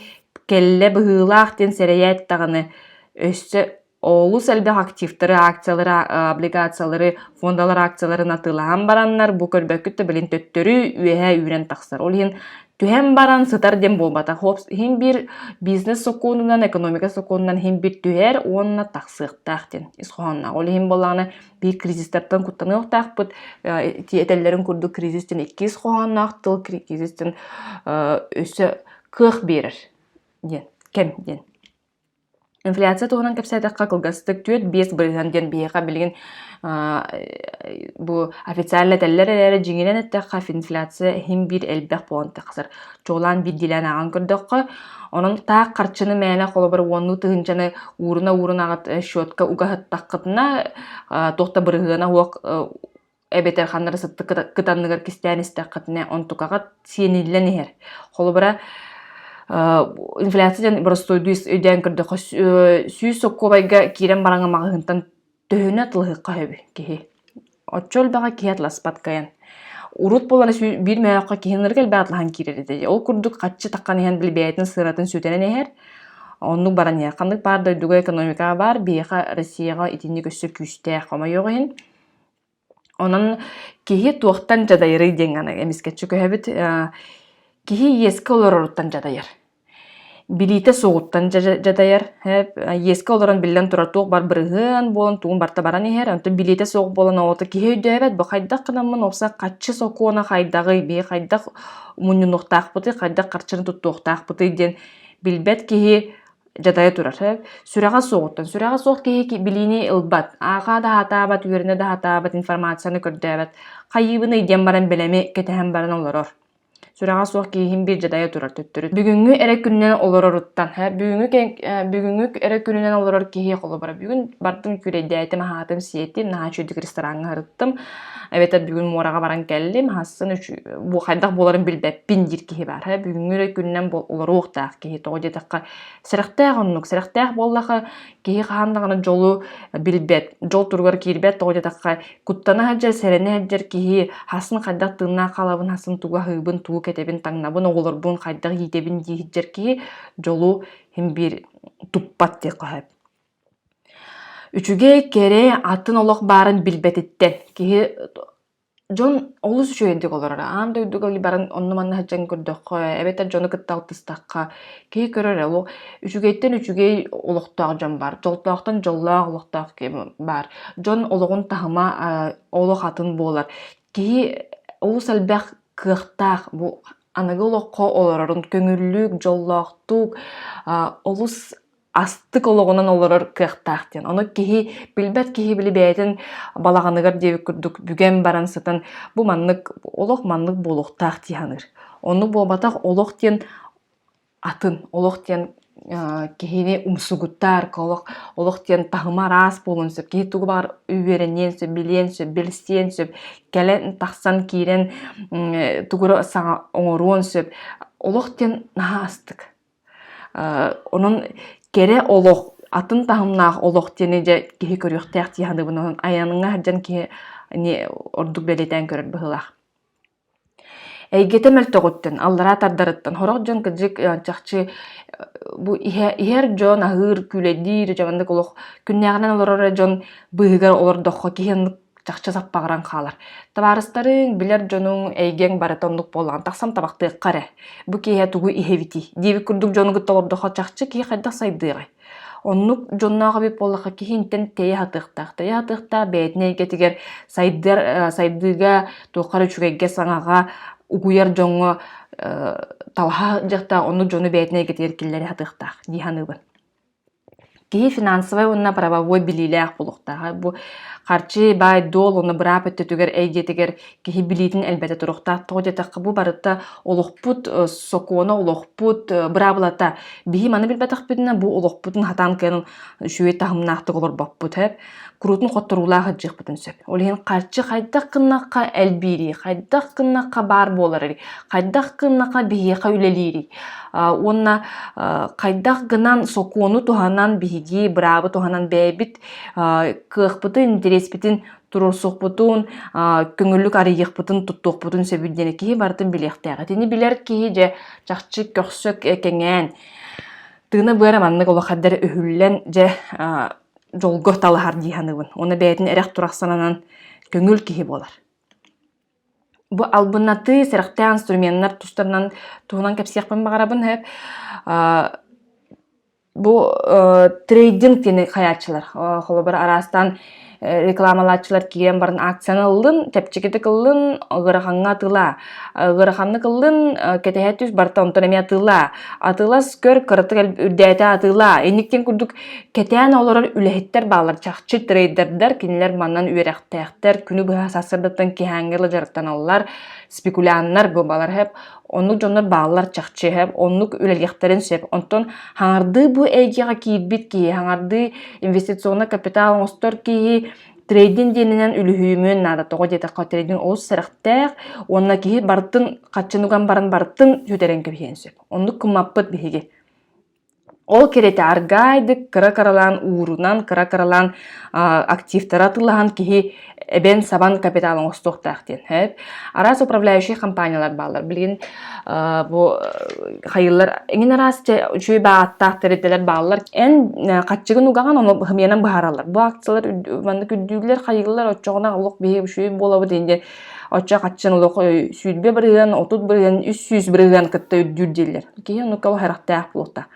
Кэллэ быһыылаах диэн сэрэйээт-даҕаны, өссө олус элбэх активтары, акциялары, облигациялары, фондалар акцияларын атыылаһан бараннар, бу көрбөккүт да билигин төттөрү үөһэ үүрэн тахсар. Ол иһин түһэн баран сытар диэн буолбатах. Хопс иһин биир бизнес сокуонунан, экономика сокуонунан иһин биир түһэр уонна тахсыахтаах диэн ис хоһоонноох. Ол иһин буоллаҕына биир кризистартан куттаныахтаахпыт. Этэллэрин курдук кризис диэн иккис хоһоонноох тыл кризис диэн өссө кыах биэрэр диэн кэм диэн. Инфляция туһунан кэпсээтэххэ кылгастык түөрт биэс бырыһыан диэн биһиэхэ билигин бу официально этэллэр эрээри дьиҥинэн эттэххэ инфляция иһин биир элбэх буолан тахсар чуолаан биирдиилээн ааҕан көрдөххө онон таах харчыны мээнэ холобур уоннуу тыһыынчаны ууруна уурунаҕыт счетка угаһыттаххытына туох да бырыһыана суох эбэтэр ханнара сытты кытанныгар кистээн истэххитинэ онтукаҕат сиэниллэн иһэр. Холобура инфляция дьэн боростуойдуу өйдөөн көрдөхө сүүс сокуобайга киирэн бараҥа маҕаһыынтан төһөнө тылыһыкка хөбү киһи. Отчо өлбэҕэ киһи атласпат кайан. Урут болана биир мөөххө киһинэргэ элбэх атлаһан киирэр этэ. Ол курдук хаччы таххан иһэн билбэйэтин сыратын сүтэрэн иһэр. Оннук баран иһэр. Ханнык баар дойдуга экономика бар, биһиэхэ Россияҕа итинник өссө күүстээх хомойоҕ иһин Онон киһи туохтан дьадайарый диэн аны эмискэччи көһөбүт. Киһи иэскэ олороруттан дьадайар. Билиитэ суоҕуттан дьадайар. Иэскэ олорон биллэн турар туох бар бырыһыан буолан тугун барыта баран иһэр. Онтон билиэтэ суох буолан оҕото киһи өйдөөбөт бу хайдах гынаммын упса хаччы сокуона хайдаҕый бии хайдах мунньунуохтаахпытый хайдах харчыны туттуохтаахпытый диэн билбэт киһи дьатайа турар. Сүрэҕэ суоҕуттан, сүрэҕэ суох киһи билиини ылбат, ааҕа да сатаабат, үөрэнэ да сатаабат информацияны көрдөөбөт. Хайыыбын ыйдыан баран бэлэми кэтэһэн баран олорор. Сүрэҕэ суох киһиһин биир дьадайа турар төттөрү. Бүгүҥҥү эрэ күнүнэн олороруттан, бүгүҥҥү эрэ күнүнэн олорор киһи холобура. Бүгүн бардым, күрэйдээтим, аһаатым, сиэтим, наһаа үчүгэйдик рестораҥҥа сырыттым. эбэтэр бүгүн муораҕа баран кэллим, хасын үч бу хайдах буоларын билбэппин диир киһи баар. Һэ, бүгүҥҥү эрэ күнүнэн бу олоруохтаах киһи. Тоҕо диэтэххэ, сэрэхтээх оннук. Сэрэхтээх буоллаха, киһи хаһан даҕаны дьолу билбэт, дьол туругар киирбэт. Тоҕо диэтэххэ, куттана сылдьар, сэрэнэ сылдьар киһи хасын хайдах тыыннаах хаалабын, хасын тугу аһыыбын, тугу кэтэбин, таҥнабын, оҕолорбун хайдах иитэбин дии сылдьар киһи дьолу син биир туппат диэххэ сөп. Үчүгэй, кэрэ, атын олох баарын билбэтиттэн киһи дьон олус үчүгэйдик олороро. Аан дойдуга баран онно-манна сылдьан көрдөххө, эбэтэр дьону кытта алтыстахха, киһи көрөр олох үчүгэйтэн үчүгэй олохтоох дьон баар, дьолтоохтон дьоллоох олохтоох киһи баар. Дьон олоҕун таһыма олох атын буолар. Киһи олус элбэх кыахтаах бу аныгы олоххо олорорун көҥүллүүк, дьоллоохтук, олус астык олоҕунан олорор кыахтаах диэн. Ону киһи билбэт киһи били бэйэтин балаҕаныгар диэбит курдук бүгэн баран сытан бу маннык олох маннык буолуохтаах дии саныыр. Ону буолбатах олох диэн атын, олох диэн киһини умсугутар, олох, олох диэн таһыма араас буолуон сөп. Киһи тугу баар үөрэниэн сөп, билиэн сөп, билсиэн сөп, кэлэн, тахсан, киирэн тугу саҥа оҥоруон сөп. Олох диэн наһаа астык. Онон кэрэ олох, атын таһымнаах олох диэни дьэ киһи көрүөхтээх дии саныыбын. Онон айанҥа сылдьан киһи ордук бэлиэтээн көрөр быһыылаах. Эйгэтэ мөлтөҕүттэн, аллараа тардарыттан сорох дьон кырдьык чахчы бу иһэр дьон аһыыр, күүлэйдиир, дьэ маннык олох күннээҕинэн олорор эрэ дьон быыһыгар олордоххо киһи чахчы саппаҕыран хаалар. Табаарыстарыҥ, билэр дьонуҥ, эйгэҥ барыта оннук буоллаҕын тахсан табахтыахха эрэ. Бу киэһэ тугу иһэбитий? диэбит курдук дьонугут толордоххо чахчы киһи хайдах сайдыаҕай? Оннук дьонноох эбит буоллахха киһинтэн тэйэ сатыахтаах. Тэйэ сатыахтаах бэйэтин эйгэтигэр сайдыар э, сайдыыга туохха эрэ үчүгэйгэ, саҥаҕа угуйар дьоҥҥо э, талаһа дьахтаах оннук дьону бэйэтин эйгэтигэр киллэрэ сатыахтаах дии саныыбын. Киһи финансовай уонна правовой билиилээх буолуохтааҕа. Бу харчы, баай-дуол уонна быраап өттүтүгэр эйгэтигэр киһи билиитин элбэтэ туруохтаах. Тоҕо диэтэххэ, бу барыта олохпут э, сокуона, олохпут э, быраабылата. Биһи маны билбэтэхпитинэ, бу олохпутун хатаан кыайан үчүгэй таһымнаахтык олорбоппут. куруутун хотторуулаах ырдьыахпытын сөп. Ол иһин харчы хайдах гыннахха элбиирий, хайдах гыннахха баар буоларый, хайдах гыннахха биһиэхэ үлэлиирий уонна хайдах гынан сокуону туһанан биһиги быраабы туһанан бэйэбит кыахпытын, интэриэспитин туруорсукпутун, көҥүллүк арыйыахпытын, туттуохпутун сөбүн диэни киһи барытын билиэхтээх. Итини билэр киһи дьэ чахчы көхсөк кэҥээн, тыына-быара маннык улахардар өһүллэн дьэ дьолго талаһар дии саныыбын. Уна бэйэтин эрэх турах сананан көҥүл киһи буолар. Бу албыннатыы, сэрэхтээх инструменнар тустарынан туһунан кэпсиэхпин баҕарабын сөп. Бу трейдинг диэни хайааччылар. Холобур араастаан рекламалааччылар киирэн баран акцияны ыллын, чэпчэкитик ыллын, ыгырахаҥҥа атыылаа. Ыгыраханнык ыллын, кэтэһэ түс, барыта онтон эмиэ атыылаа. Атыылас көр, кыратык үрдээтэ атыылаа. Инниктин курдук Кэтээн олорор үлэһиттэр бааллар чахчы трейдердэр, кинилэр манан үөрэхтээхтэр, күнү быһа сарсыардаттан киһээҥҥэ ыла дьарыктаналлар, спекуляннар бу балар хэп, оннук дьоннор бааллар чахчы хэп, оннук үлэлиэхтэрин сөп. Онтон хаҥардыы бу эйгэҕэ киирбит киһи, хаҥардыы инвестиционный капитал оҥостор киһи трейдин диэнинэн үлүһүйүмүн наада тоҕо диэтэххэ трейдин олус сэрэхтээх уонна киһи барытын хаччын уган баран барытын сүтэрэн кэбиһиэн сөп. Оннук кыммаппыт биһиги. Ол кэриэтэ аргаайдык, кыра-кыралаан уурунан, кыра-кыралаан активтара атыылаһан киһи эбэн-сабан капитал оҥостуохтаах диэн сөп. Араас управляющай хампаанньалар бааллар. Билигин бу хайыылар эҥин араас үчүгэй бааттаах тэрилтэлэр бааллар. Эн хаччыгын угаҕан ону быһымыйанан быһаараллар. Бу акциялар маннык үрдүүллэр, хайыылар оччоҕуна олох биһи үчүгэй буолабыт иһин диэн Оччо хаччан олох сүүрбэ бырыһыан, отут бырыһыан, үс сүүс бырыһыан кытта үрдүүр дииллэр. Киһи оннукка харахтаах буолта.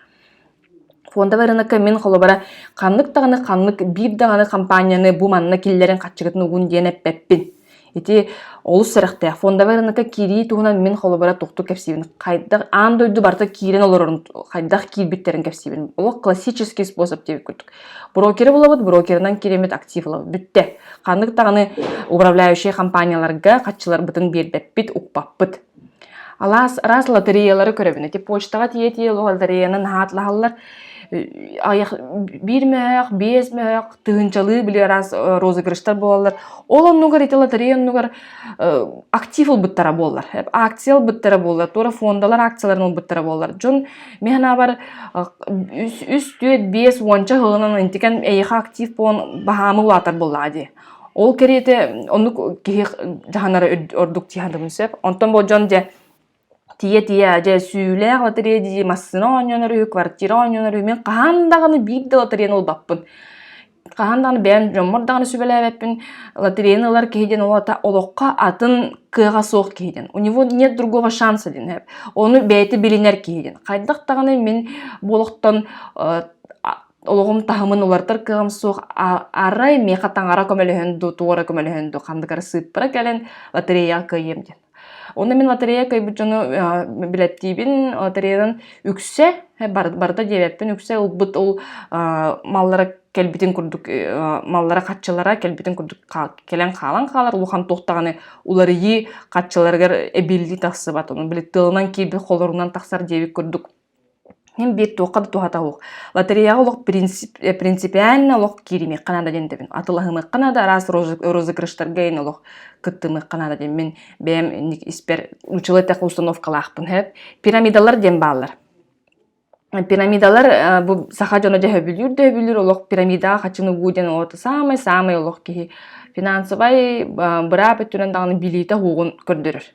Фондовый рынокка мин холобура ханнык даҕаны ханнык биир даҕаны компанияны бу манна киллэрин хаччыгытын угун диэн эппэппин. Ити олус сэрэхтээх. Фондовый рынокка кирии туһунан мин холобура тухтук кэпсиибин. Хайдах аан дойду барыта киирэн олорорун хайдах киирбиттэрин кэпсиибин. Олох классический способ диэбит курдук. Брокеры булабыт, брокерынан кииримит актив ылабыт. Бүтте. Ханнык даҕаны управляющий компанияларга хаччыларбытын биэрбэппит, укпаппыт. Алаас раз лотереялары көрөбүн. Эти почтаға тиетие лотереяны наһаатлаһаллар биир мөөх, биэс мөөх тыһынчалыы били раз э, розыгрыштар буолалар. Ол оннугар ити лотерея оннугар э, актив ылбыттара буоллар. Акция ылбыттара буоллар, тура фондалар акцияларын ылбыттара буоллар. Дьон Мен санаабар үс түөрт биэс уонча сылынан интикэн эйиэхэ актив буон баһаамы улаатар боллаа дии ол кэриэтэ оннук киһи дьаһанара ордук тиһандыбын сөп онтон бу дьон дьэ тие-тие дьэ сүүлээх лотерея дии массыына оонньонор үһү квартира оонньонор үһү мен хаһан даҕаны биир да лотереяны ылбаппын хаһан даҕаны бэйэм дьоммор даҕаны сүбэлээбэппин лотереяны ылар киһи диэн уолата олоххо атын кыаҕа суох киһи диэн у него нет другого шанса диэн эб ону бэйэтэ билинэр киһи диэн хайдах даҕаны мин бу олохтон олоҕум таһымын уларытар кыаҕым суох арай миэхэ таҥара көмөлөһөн дуу туора көмөлөһөн дуу ханнык эрэ сыыппара кэлэн лотереяҕа кыайыам диэн Онно мин лотерея кыайбыт дьону билеттиибин, лотереянан үксэ, барыта диэбэппин, үксэ ылбыт ол маллара кэлбитин курдук маллара хаччылара кэлбитин курдук кэлэн хаалан хаалар улахан туох даҕаны уларыйыы хаччыларыгар эбиллии тахсыбат. Ону били тылынан киирбит холорунан тахсар диэбит курдук Мин биир туохха да туһата суох. Лотереяҕа олох принцип, э, принципиально олох кииримиэххэ наада диэн этэбин. Атылаһымыахха наада, араас розыг- розыгрыштарга иһин олох кыттымыахха наада диэн. Мин бэйэм инник испэр учула этэх установкалаахпын сөп. Пирамидалар диэн бааллар. Пирамидалар э, бу саха дьоно дьэ сөбүлүүр да сөбүлүүр олох пирамидаҕа хачынугу диэн оҕото саамай саамай олох киһи финансовай э, быраап өттүнэн даҕаны билиитэ угун көрдөрөр.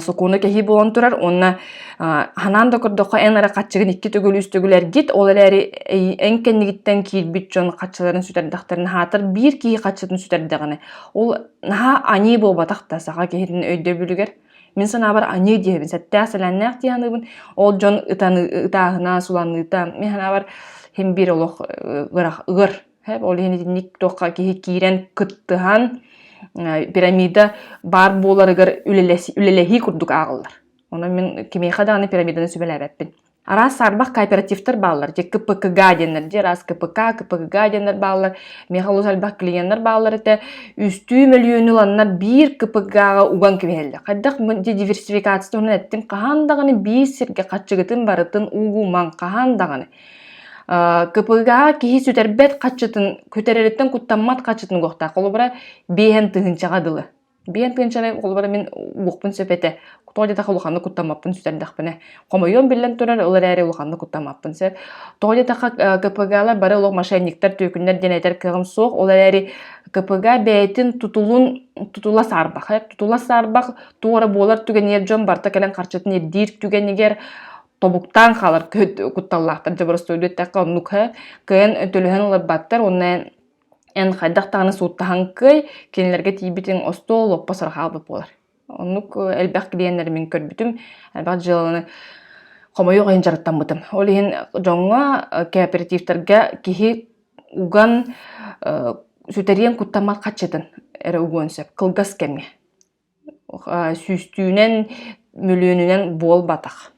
сокуону кэһии буолан турар уонна ханаан да көрдөххө эн эрэ хаччыгын икки төгүл үс төгүл эргит ол эрээри эн кэннигиттэн киирбит дьон хаччыларын сүтэрдэхтэринэ аһатар биир киһи хаччытын сүтэрдэҕинэ ол наһаа аньыы буолбатах да саха киһитин өйдөбүлүгэр мин санаабар аньыы диэбин сэттээх сэлээннээх дии саныыбын ол дьон ытаны ытааһына суланныыта мин санаабар син биир олох ыар Ол иһин итинник туохха киһи киирэн кыттыһан пирамида баар буоларыгар үлэлэһии курдук ааҕыллар. Онон мин кимиэхэ даҕаны пирамиданы сүбэлээбэппин. Араас саарбах кооперативтар бааллар, дьэ КПКГ диэннэр, дьэ араас КПК, КПГ диэннэр бааллар, миэхэ олус элбэх клиеннэр бааллар этэ, үстүү мөлүйүөнү ыланнар биир КПК-га уган кэбиһэллэр. Хайдах дьэ диверсификация туһунан эттим, хаһан даҕаны биир сиргэ хаччыгытын барытын угумаҥ, хаһан даҕаны. кпга киһи сүтэрбэт хаччытын күтэрэриттэн куттаммат хаччытын уохтаах холобура биэһэн тыһынчаҕа дылы биэн тыынчаны холобура мин уохпун сөп этэ тоҕо диэтэх улаханнык куттаммаппын сүтэрдэхпинэ хомойуом биллэн турар ылар эрэ улаханнык куттаммаппын сөп тоҕо диэтэххэ кпгалар бары олох мошенниктар түөкүннэр диэн этэр кыаҕым суох ол эрээри кпга бэйэтин тутулун тутула саарбах э тутула саарбах туора буолар түгэниэр дьон барта кэлэн харчытын ирдиир түгэнигэр тобуктаан хаалар көт кутталлаахтар дьоборостуойду эттэххэ оннук һэ кыайан төлөһөн ыларбаттар уонна эн эн хайдах даҕаны сууттаһан кыай кинилэргэ тиийбитиҥ остуол лоппо сорох хаалбыт буолар оннук элбэх клиеннэри мин көрбүтүм элбэх дьыаланы хомойуох иһин дьарыктаммытым ол иһин дьоҥҥо кооперативтарга киһи уган сүтэриэн куттаммат хаччытын эрэ угуон сөп кылгас кэмҥэ Сүүстүүнэн, мөлүөнүнэн буолбатах.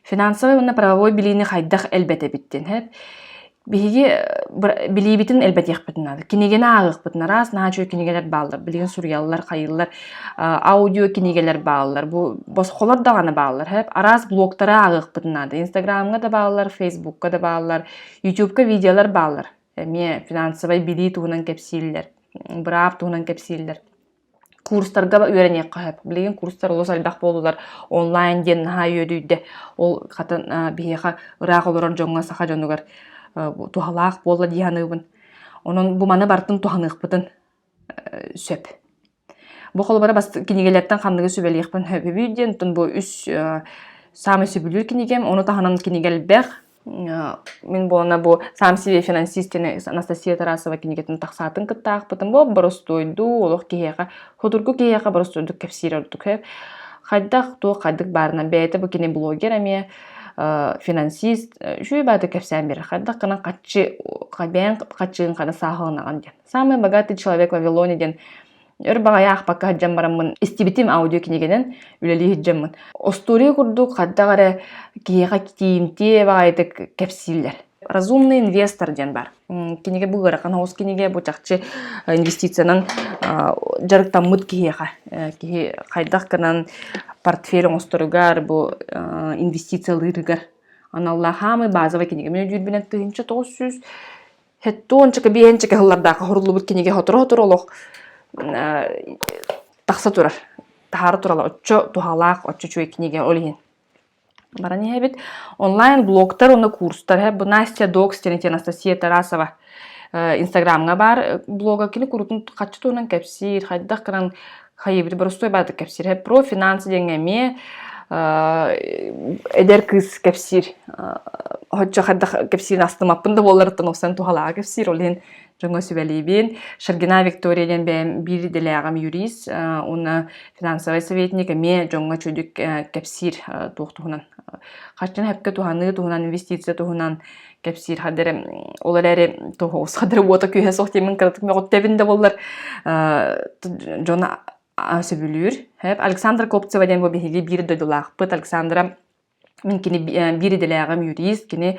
Финансовай уонна правовой билиини хайдах элбэтэбиттин хэп биһиги билиибитин элбэтиэхпитин наада. Кинигэни ааҕыахпытын араас наһаа үчүгэй кинигэлэр бааллар билигин суруйаллар, хайыыллар аудио кинигэлэр бааллар бу босхолор даҕаны бааллар хэп араас блогтары ааҕыахпытын наада. Инстаграмҥа да бааллар, фейсбукка да бааллар, ютубка видеолар бааллар. эмиэ финансовай билии туһунан кэпсииллэр, быраап туһунан кэпсииллэр. Курстарга үөрэниэххэ сөп. Билигин курстар олус элбэх буоллулар. Онлайн диэн наһаа үөдүйдэ. Ол хата биһиэхэ ыраах олорор дьоҥҥо, саха дьонугар туһалаах буолла дии саныыбын. Онон бу маны барытын туһаныахпытын сөп. Бу холобура бас кинигэлэртэн ханныгы сүбэлиэхпин сөбүбүй диэн оттон бу үс э, саамай сөбүлүүр кинигэм ону таһынан кинигэ элбэх э, мин буолана бу сам себе финансист диэн Анастасия Тарасова кинигэтин тахсаатын кытта аахпытым бу боростуойду олох киһиэхэ хотургу киһиэхэ боростуойдук кэпсиир ордук хайдах туох хайдык баарына бэйэтэ бу кини блогер эмиэ э, финансист үчүгэй бааты кэпсээн берер хайдах гынан хаччы бэйэҥ хаччыгын хана сааһыланаҕын диэн Самый богатый человек Вавилоне диэн өр баҕайы аахпакка сылдьан бараммын истибитим аудиокинигэнэн үлэлии сылдьаммын. Остуория курдук хаддах эрэ киһиэхэ тиинтиэ баҕайытык кэпсииллэр. Разумный инвестор диэн бар. Кинигэ бу ыарахан хоус кинигэ, бу чахчы инвестициянан дьарыктаммыт киһиэхэ. Киһи хайдах гынан портфель оҥосторугар, бу инвестициялыырыгар аналлаах хаамый базовый кинигэ. Мен өйдүүрбүнэн тыһыынча тоҕус сүүс Хэтту ончука биэһэнчэкэ сыллардаах хоһуруллубут кинигэ хоторо-хоторо олох тахса турар. Таһаара турала оччо туһалаах, оччо үчүгэй кинигэ ол иһин. Баран иһэбит онлайн-блогтар уонна курстар. Бу Настя Докс, Терентия Анастасия Тарасова Инстаграмҥа баар блога кини курутун хаччы туһунан кэпсиир, хайдах гынан хайыбыт боростуой баатык кэпсиир профинанс диэҥҥэ эмиэ эдэр кыыс кэпсиир hocca хайдах кэпсиирин астымаппын да буолларыттан охсон туһалааҕы кэпсиир ол иһин дьоҥҥо сүбэлиибин Шаргина Виктория диэн бэйэм биир идэлээҕим юрист уонна финансовай советник эмиэ дьоҥҥо чудик кэпсиир туох туһунан хаччан сөпкө туһаныы туһунан инвестиция туһунан кэпсиир хадыр ол эрээри тоһоҕос хадыр уота күөһэ суох диэмин кыратык мөҕүттэбин да боллар дьоно сөбүлүүр Александра Копцева диэн бу биһиги биир дойдулаахпыт Александра мин кини биир идэлээҕим юрист кини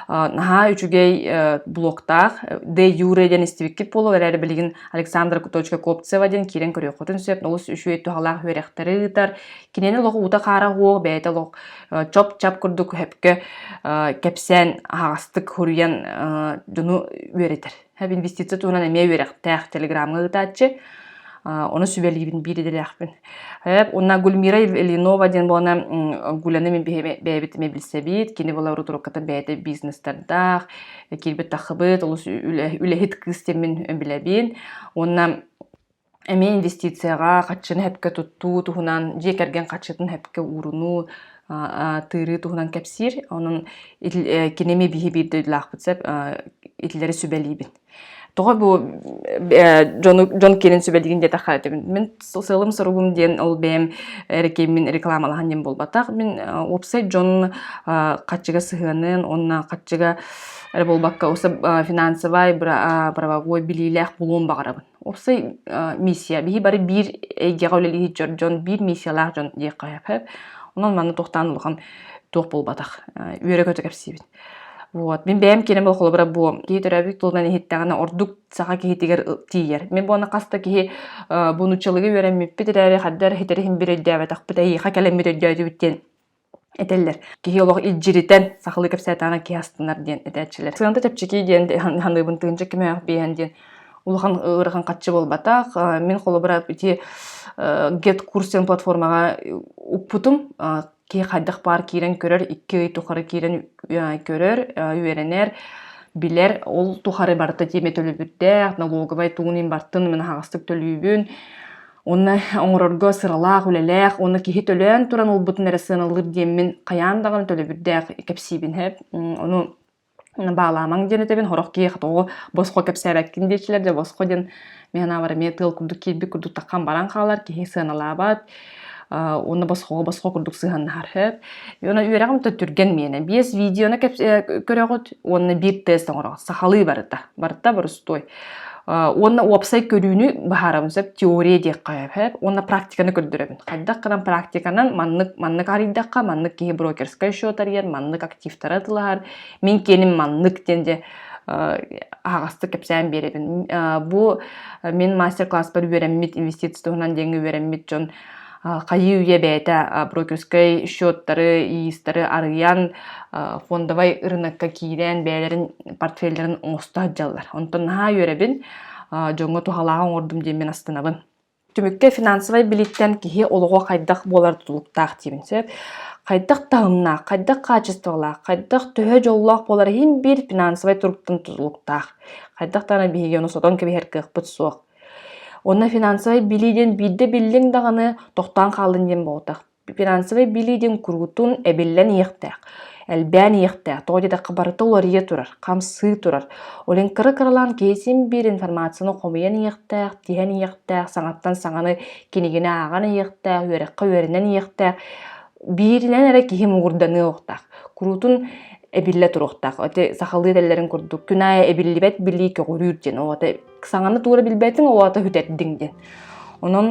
наһаа үчүгэй блогтаах де юре диэн истибиккит буолуо эрээри билигин Александра Куточка Копцева диэн киирэн көрүөххүтүн сөп олус үчүгэй туһалаах үөрэхтэри ыытар кинини олох уута хаара уох бэйэтэ олох чоп-чап курдук хөпкө кэпсээн аһаҕастык суруйан дьону үөрэтэр. Инвестиция туһунан эмиэ үөрэхтээх телеграмҥа ыытааччы. Ону сүбэлиибин биир идэлээхпин. Уонна Гульмира Ильинова диэн буолана Гуляны мин бэйэбит эмиэ билсэбит. Кини була рутурууккаттан бэйэтэ бизнестардаах, киирбит таххыбыт, олус үлэһит кыыс диэн мин билэбин. Уонна Эмиэ инвестицияҕа хаччыны сөпкө туттуу туһунан, дьиэ кэргэн харчытын сөпкө уурунуу, атыырыы туһунан кэпсиир. Онон кини эмиэ биһи биир дойдулаахпыт сөп итилэри сүбэлиибин. Тоҕо бу дьону дьон киэнин сүбэлиигин диэтэххэ мин сыалым-соругум диэн ол бэйэм эркииммин рекламалаһан диэн буолбатах. Мин уопсай дьон харчыга сыһыаныан уонна харчыга эрэ буолбакка финансовай правовой билиилээх буолуон баҕарабын. уопсай миссия биһи бары биир эйгэҕэ үлэлиир дьон дьон биир миссиялаах дьон диэххэ онон манна туохтаан улахан туох буолбатах үөрэ-көтө кэпсиибит вот мин бэйэм киэнэ был холобура бу киһи төрөөбүт тылынан иһиттэҕинэ ордук саха киһитигэр тиийэр мен буона хаста киһи бу нуччалыгы үөрэммиппит эрээри хаддар хитэри иһин бир өйдөөбөтөхпүт эйиэхэ кэлэммит өйдөөтүбүт диэн этэллэр киһи олох илдьиритэн сахалыы кэпсээтэҕинэ киһи астынар диэн этээччилэр сыаната чэпчэкий диэн ханыыбын тыынча кимээх биэһэн диэн улахан ыарахан хаччы буолбатах мин холобура ити гет курсен платформаҕа уппутум киһи хайдах баар киирэн көрөр икки ый тухары киирэн көрөр үөрэнэр билэр ол тухары барыта тиэмэ төлөбүрдээх налоговай тугунан бартын мин аһаҕастык төлүүбүн Уонна оҥорорго сыралаах, үлэлээх уонна киһи төлөөн туран ылбытын эрэ сыаналыыр диэммин хайаан даҕаны төлөбүрдээх кэпсиибин эһэ ону баалаамаҥ диэн этэбин сорох киһи тоҕо босхо кэпсээбэккин диэчилэр дьэ босхо диэн мен анаабар эмиэ тыал курдук киирбит курдук таххан баран хаалар киһи сыаналаабат уонна босхоҕо босхо курдук сыһыаннаһар эт уонна үөрэҕим да түргэн миэнэ биэс видеоны көрөҕүт уонна биир тест оҥороҕут сахалыы барыта барыта борустуой Уонна уопсай көрүүнү быһаарабын сөп теория диэххэ сөп уонна практиканы көрдөрөбүн. Хайдах гынан практиканан маннык маннык арыйдахха маннык киһи брокерскай счет арыйар, маннык активтары атылаһар, мин киэним маннык диэн дьэ аһаҕастык кэпсээн биэрэбин. Бу мин мастер-класспар үөрэммит, инвестиция туһунан диэҥҥэ үөрэммит дьон хайыы үйэ бэйэтэ брокерскай счеттары, иистары арыйан, фондовай ырынакка киирэн, бэйэлэрин портфеллэрин оҥосто сылдьаллар. Онтон наһаа үөрэбин, дьоҥҥо туһалааҕы оҥордум диэммин астынабын. Түмүккэ финансовай билииттэн киһи олоҕо хайдах буолар тутулуктаах диибин. Сөп хайдах таһымнаах, хайдах хаачыстыбалаах, хайдах төһө дьоллоох буолар иһин биир финансовай туруктан тутулуктаах. Хайдах даҕаны биһиги ону сотон кэбиһэр кыахпыт суох. Уонна финансовай билии диэн биирдэ биллиҥ даҕаны тохтоон хааллын диэн буолбатах. Финансовай билии диэн куруутун эбиллэн иһиэхтээх, элбээн иһиэхтээх. Тоҕо диэтэххэ, барыта уларыйа турар, хамсыы турар. Ол иһин кыра-кыралаан киһи биир информацияны хомуйан иһиэхтээх, тиһэн иһиэхтээх, саҥаттан саҥаны кинигини ааҕан иһиэхтээх, үөрэххэ үөрэнэн иһиэхтээх. Бииринэн эрэ киһи муҥурданыа уохтаах. Куруутун эбиллэ туруохтаах. Ити сахалыы этэллэрин курдук, күн аайы эбиллибэт билии көҕүрүүр диэн. Ол саҥаны туура билбэттиҥ ол аата хүтэрдиҥ диэн онон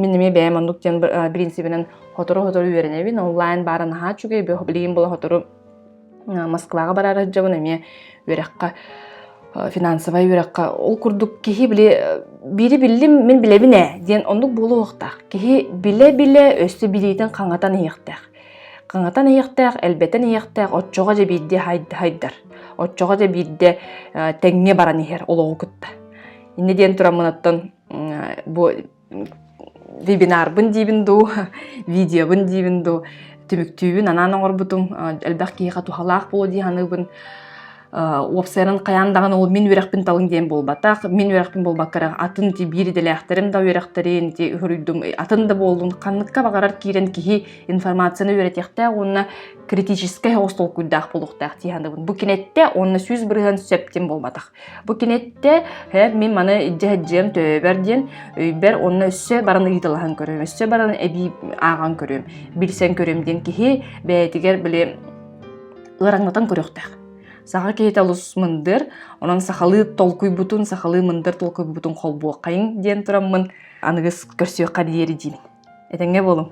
мин эмиэ бэйэм оннук диэн принципинэн сотору-сотору үөрэнэбин онлайн баара наһаа үчүгэй билигин була сотору Москваҕа барара дьабын эмиэ үөрэххэ финансовай үөрэххэ ол курдук киһи били биири биллим мин билэбин ээ диэн оннук буолуохтаах киһи билэ-билэ өссө билиитин хаҥатан иһиэхтээх Хаҥатан иһиэхтээх, элбэтэн иһиэхтээх оччоҕо дьэ биирдэ хайдар. Оччоҕо дьэ биирдэ тэҥҥэ баран иһэр олоҕу кытта. Иннэ диэн туран мунаттан бу вебинарбын диибин дуу, видеобын диибин дуу түмүктүүбүн анаан оҥорбутум. Элбэх киһиэхэ туһалаах буолуо дии саныыбын. уопсайынан хайаан даҕаны ол мин үөрэхпин талыҥ диэн буолбатах мин үөрэхпин буолбакка эрэ атын ити биир идэлээхтэрим да үөрэхтэрин ити хоруйдум атын да буоллун ханныкка баҕарар киирэн киһи информацияны үөрэтиэхтээх уонна критическэй оҕус толкуйдаах буолуохтаах дии санаабын бу киниттэ уонна сүүс бырыһан сөптүм буолбатах бу киниттэ мин маны илдьэ сылдьыам төбөбөр диэн өйбөр онно өссө баран ыйыталаһан көрүөм өссө баран эбии ааҕан көрүөм билсэн көрүөм диэн киһи бэйэтигэр били ыараҥнатан көрүөхтээх. Саха киһитэ олус мындыр, онон сахалыы толкуйбутун, сахалыы мындыр толкуйбутун холбуоххайыҥ диэн тураммын аныгыс көрсүөххэ диэри диибин. Этэҥҥэ буолуҥ.